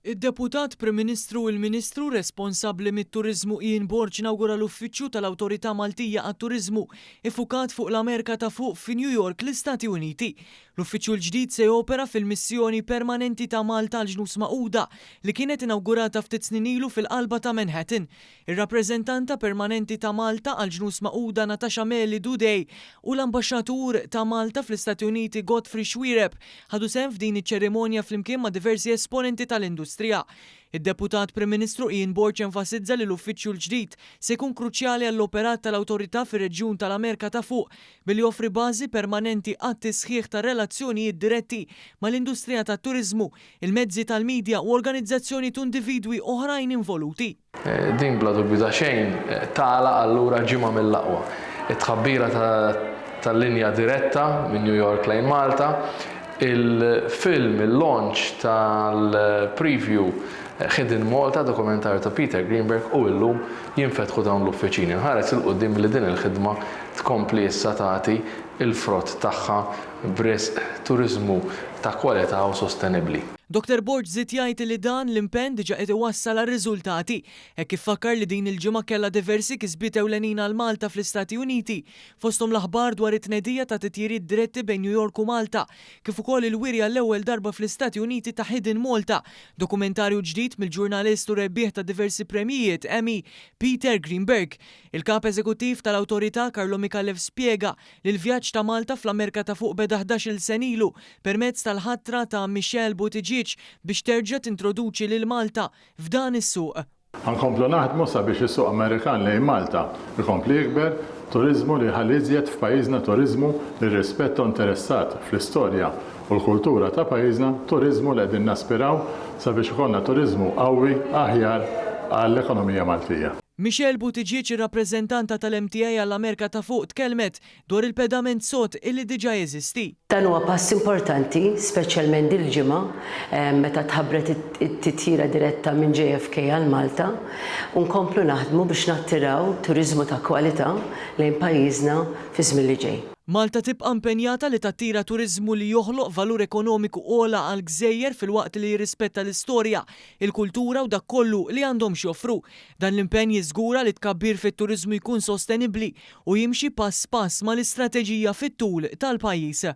Id-Deputat Prim Ministru u l-Ministru responsabbli mit-Turiżmu Ian Borg nawgura l-Uffiċċju tal-Awtorità Maltija għat-Turiżmu iffukat fuq l-Amerka ta' Fuq fi New York, l-Istati Uniti. L-Uffiċċju l-ġdid se jopera fil-Missjoni Permanenti ta' Malta għall-Ġnus Magħquda li kienet inawgurata ftit snin ilu fil-qalba ta' Manhattan. ir-Rappreżentanta Permanenti ta' Malta għall-Ġnus Magħquda Natasha Meli Dudej u l-Ambaxxatur ta' Malta fl-Istati Uniti Godfrey Xuereb ħadu sehem f'din iċ-ċerimonja flimkien ma' diversi esponenti tal-industrija. Id-Deputat Prim Ministru Ian Borg enfasizza li l-uffiċċju l-ġdid se jkun kruċjali għall-operat tal-Awtorità fir-reġjun tal-Amerika ta' Fuq billi joffri bażi permanenti għat-tisħiħ tar-relazzjonijiet diretti mal-industrija tat-turiżmu, il-mezzi tal-midja u organizzazzjonijiet u individwi oħrajn involuti. Din bla dubju ta' xejn tagħlaq allura ġimgħa mill-aqwa. It-tħabbira ta' linja diretta minn New York lejn Malta, il-film, il-launch tal-preview Hidden Malta, dokumentarju ta' Peter Greenberg u illum jinfetħu dawn l-uffiċini. Nħares 'il quddiem li din il-ħidma tkompli issa tagħti l-frott tagħha b'risq turiżmu ta' kwalità u sostenibbli. Doktor Borg żied jgħid li dan l-impenn diġà qied iwassal għal riżultati hekk kif fakkar li din il-ġimgħa kellha diversi kisbiet ewlenin għal Malta fl-Istati Uniti fosthom l-aħbar dwar it-tnedija ta' titjiriet diretti bejn New York u Malta kif ukoll il-wiri għall-ewwel darba fl-Istati Uniti ta' Hidden Malta, dokumentarju ġdid mill-ġurnalist u rebbieħ ta' diversi premjijiet Emmy, Peter Greenberg. Il-Kap Eżekuttiv tal-Awtorità, Carlo Micallef spjega li l-vjaġġ ta' Malta fl-Amerika ta' Fuq beda ħdax-il sen ilu permezz tal-ħatra ta' Michelle Buttigieg biex terġa' tintroduċi lil Malta f'dan is-suq. Ħa nkomplu naħdmu sabiex is-suq Amerikan lejn Malta jkompli jikber, turiżmu li jħalli iżjed f'pajjiżna turiżmu li rrispetta u interessat fl-istorja u l-kultura ta' pajjiżna, turiżmu li qegħdin naspiraw sabiex ikollna turiżmu qawwi aħjar għall-ekonomija Maltija. Michelle Buttigieg, ir-rappreżentanta tal-MTA għall-Amerika ta' Fuq tkellmet dwar il-pedament sod illi diġà jeżisti. Dan huwa pass importanti, speċjalment dil-ġimgħa meta tħabbret it-titjira diretta minn JFK għal Malta u nkomplu naħdmu biex nattiraw turiżmu ta' kwalità lejn pajjiżna fiż-żmien li ġej. Malta tibqa' impenjata li tattira turiżmu li joħloq valur ekonomiku ogħla għall-gżejjer filwaqt li jirrispetta l-istorja, il-kultura u dak kollu li għandhom x'joffru. Dan l-impenn jiżgura li t-tkabbir fit-turiżmu jkun sostenibbli u jimxi pass pass mal-istrateġija fit-tul tal-pajjiż.